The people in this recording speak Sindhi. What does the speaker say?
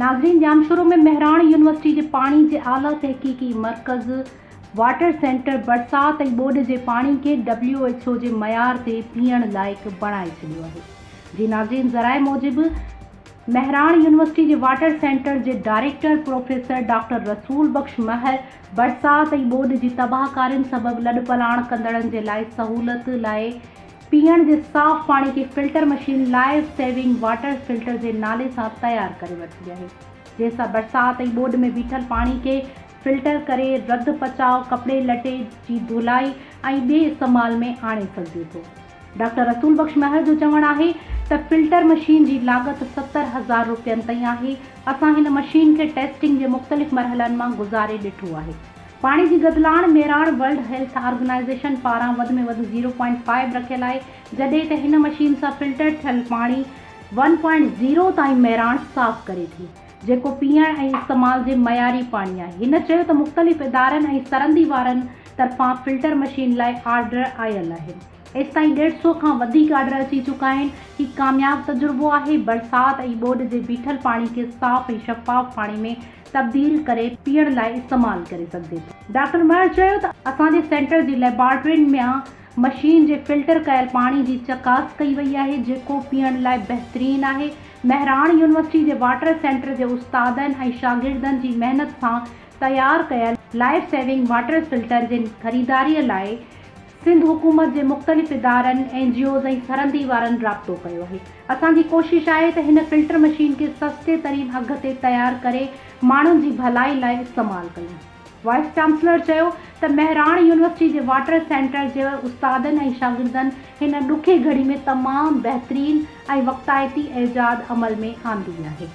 ناظرين ڄام شورو ۾ مهراڻ يونيورسٽي جي پاڻي جي اعليٰ تحقيقي مرڪز واٽر سينٽر برسات ۽ ٻوڏ جي پاڻي کي ڊبليو ايڇ او جي معيار تي پيئڻ لائق بڻائي ڇڏيو آهي جي ناظرين ذرائع موجب مهراڻ يونيورسٽي جي واٽر سينٽر جي director professor doctor Rasool Bakhsh مهر برسات ۽ ٻوڏ جي تباهڪارين سبب لڏپلاڻ ڪندڙن جي لاء سهولت لاء پيئڻ جي صاف پاڻي جي filter machine life saving water filter جي نالي سان تيار ڪري ورتي آهي جنهن سان برسات ۽ ٻوڏ ۾ بيٺل پاڻي کي فلٽر ڪري رڌ پچاء، ڪپڙي لٽي جي ڌولائي ۽ ٻي استعمال ۾ آڻي سگهجي ٿو. ڊاڪٽر رسول بخش مهر جو چوڻ آهي ته فلٽر مشين جي لاڳت ستر هزار روپين تائين آهي، اسان هن مشين کي ٽيسٽنگ جي مختلف مرحلن مان گذاري ڏٺو آهي. پاڻي جي گدلاڻ ميراڻ ورلڊ هيلٿ آرگنائيزيشن پاران وڌ ۾ وڌ زيرو پوائنٽ فائيو رکيل آهي، جڏهن ته هن مشين سان فلٽر ٿيل پاڻي ون پوائنٽ زيرو تائين ميراڻ صاف ڪري ٿي. جيڪو پيئڻ ۽ استعمال جي معياري پاڻي آهي. هن چيو ته مختلف ادارن ۽ سرندي وارن طرفان فلٽر مشين لاء آرڊر آيل آهي. ايستائين ڏيڍ سؤ کان وڌيڪ آرڊر اچي چڪا آهن. هي ڪامياب تجربو آهي. برسات ۽ ٻوڏ جي بيٺل پاڻي کي صاف ۽ شفاف پاڻي ۾ تبديل ڪري پيئڻ لاء استعمال ڪري سگهجي ٿو. ڊاڪٽر مهر چيو ته اسان جي سينٽر جي ليبارٽرين ميان مشين جي فلٽر ڪيل پاڻي جي چڪاس ڪئي وئي آهي جيڪو پيئڻ لاء بهترين آهي. مهراڻ يونيورسٽي جي واٽر سينٽر جي استادن ۽ شاگردن جي محنت سان تيار ڪيل لائيف سيونگ واٽر فلٽر جي خريداري لاء سنڌ حڪومت جي مختلف ادارن، اين جي اوز ۽ سرندي وارن رابطو ڪيو آهي. اسان جي ڪوشش آهي ته هن فلٽر مشين کي سستي ترين اگهه تي تيار ڪري ماڻهن جي ڀلائي لاء استعمال ڪيون. وائيس چانسلر چيو ته مهراڻ يونيورسٽي جي واٽر سينٽر جي استادن ۽ شاگردن هن ڏکي گهڙي ۾ تمام بهترين ۽ وقتائتي ايجاد عمل ۾ آندي آهي.